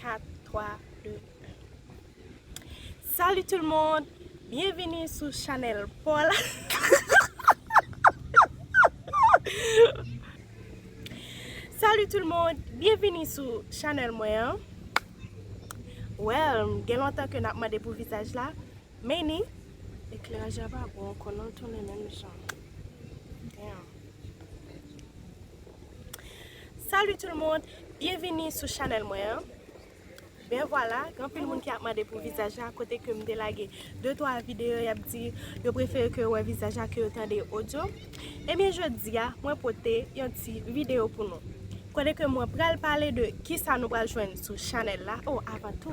4, 3, 2, 1 Salut tout le monde! Byenvini sou chanèl Paul Salut tout le monde! Byenvini sou chanèl mwen an Well, gen lontan ke nap mande pou vizaj la Meni, ekleraj la pa bon ankò non l tounen menm jan. Damn. Salut tout le monde, byenvini sou chanèl mwen an Ben vwala, gen anpil moun ki ap mande pou vizaj la kote ke m te lage de twa videyo y ap di yo prefere ke yo wè vizaj la ke yo tande odyo Ebyen jodi a mwen pote yon ti videyo pou nou kote ke mwen pral pale de kisa nou pral jwenn sou chanèl la O avan tou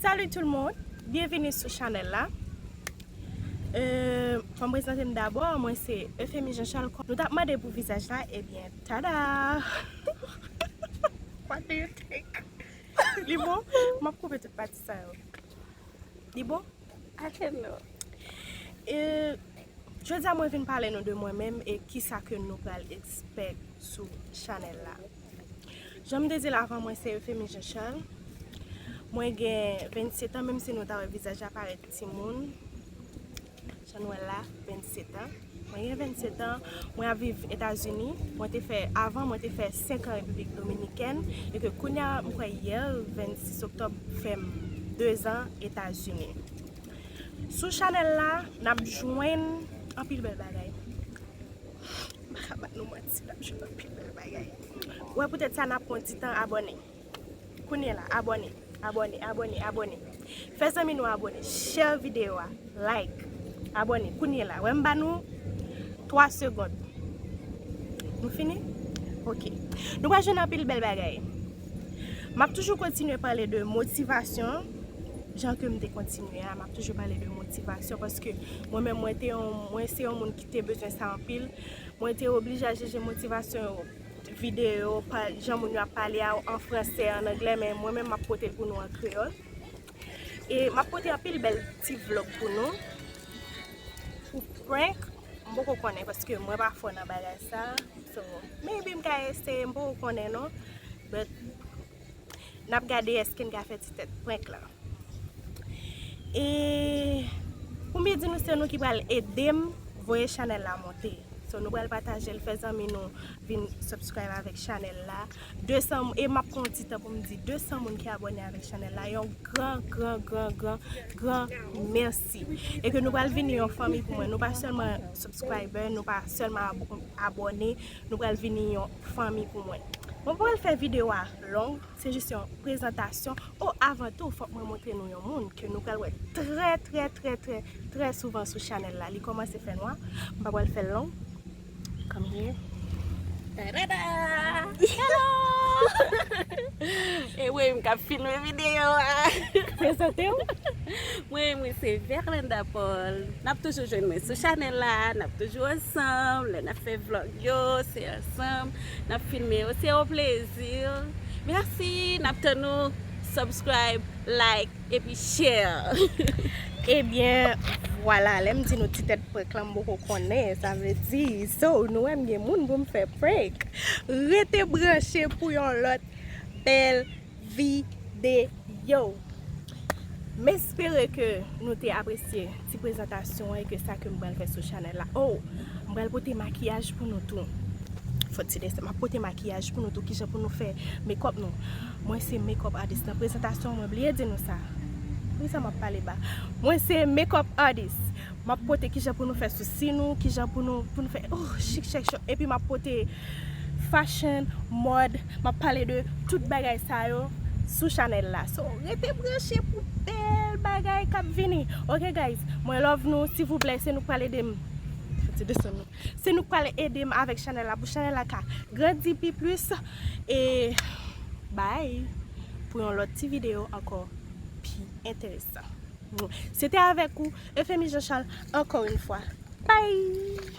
Salut tout le monde, bienvenue sou chanel la Fòm prezante m dabò, mwen se Euphémie Jean Charles Kon nou tap mande pou vizaj la, ebyen tada What do you think? Li bon? M ap koupe tout pati sa yo Li bon? I don't know. Jodi a mwen vin pale nou de mwen menm e kisa ke nou pral expect sou chanèl la. Janm te dil avan mwen se Euphemie Jean Charles. Mwen gen 27 ans menm si nou ta wè vizaj la parèt timoun. Chanuella, 27 an, Mwen gen 27 an, mwen ap viv Etazini. Mwen te fè, avan mwen te fè 5 an Repiblik Dominikèn e ke kounye a m kwè yè, 26 oktòb, fè m 2 zan Etazini. Sou chanèl la, n ap jwenn anpil bèl bagay. M pa ka ba nou manti, n ap jwenn anpil bèl bagay. Wè poutèt sa n ap pran ti tan abòne. Kounye la abòne abòne abòne abòne fè zanmi nou abòne share video a like abòne kounye la wè m ba nou 3 segond nou fini ok nou pral jwenn anpil bèl bagay map toujou kontinye pale de motivasyon jan ke m te kontinye a map toujou pale de motivasyon paske mwen menm mwen te yon mwen se yon moun ki te bezwen sa anpil mwen te oblije al chèche motivasyon yo. videyo pa jan moun yo ap pale a an fransè, an anglè men mwen menm m ap pote l pou nou an kreyòl e m ap pote anpil bèl ti vlog pou nou pou prank m poko konnen paske mwen pa fò nan bagay sa so maybe m ka eseye m poko konnen non but Nap gade eske n ka fè ti tèt prank lan. E pou m di nou se nou ki pral ede m voye chanèl la monte. So nou pral pataje l fè zanmi nou vin subscribe avèk chanèl la. E map pran yon ti tan pou m di 200 moun ki abòne avèk chanèl la yon gran gran gran gran gran mèsi. E ke nou pral vini yon fanmi pou mwen. Nou pa sèlman subscriber, nou pa sèlman abòne. Nou pral vini yon fanmi pou mwen. Mwen pa pral fè video a long, se jis yon prezantasyon, o avan tou fòk mwen montre nou yon moun ke nou pral wè trè trè trè trè trè souvan sou chanèl la, li kòmanse fè nwa, m pa pral fèl long, come here, tadada! Hello! E mwen menm kap filme video a! Prezante w! Mwen menm se Verlanda Paul. Nap toujou jwenn mwen sou chanèl la, nap toujou ansanm, lè nap fè vlog yo se ansanm, nap filme yo se yon plezi, merci nap tann nou subscribe, like epi share. Ebyen vwala lèm di nou ti tèt prank lan m poko konnen sa vle di so nou wè m gen moun pou m fè prank rete branche pou yon lòt bèl videyo. M espere ke nou te apresye ti prezantasyon an e ke sa ke m pral fè sou chanèl la. O! M pral pote makiyaj pou nou tou. Fò ti lè sa. M ap pote makiyaj pou nou tou. Kijan pou nou fè mekòp nou. Mwen se mekòp atis. Nan prezantasyon mwen bliye di nou sa. Poukisa m ap pale ba? Mwen se mekòp atis. M ap pote kijan pou nou fè sousi nou. Kijan pou nou fè chik chèk chòk. Epi m ap pote. Fashion, mòd, map pale de tout bagay sa yo sou chanèl la so rete branche pou bèl bagay kap vini ok guys mwen love nou silvouplè se nou k pral edem se nou k pral edem avèk chanèl la pou chanèl la ka grandi pi plis e bye pou yon lòt ti video ankò pi enteresan se te avèk ou Euphémie Jean Charles ankò yn fwa bye.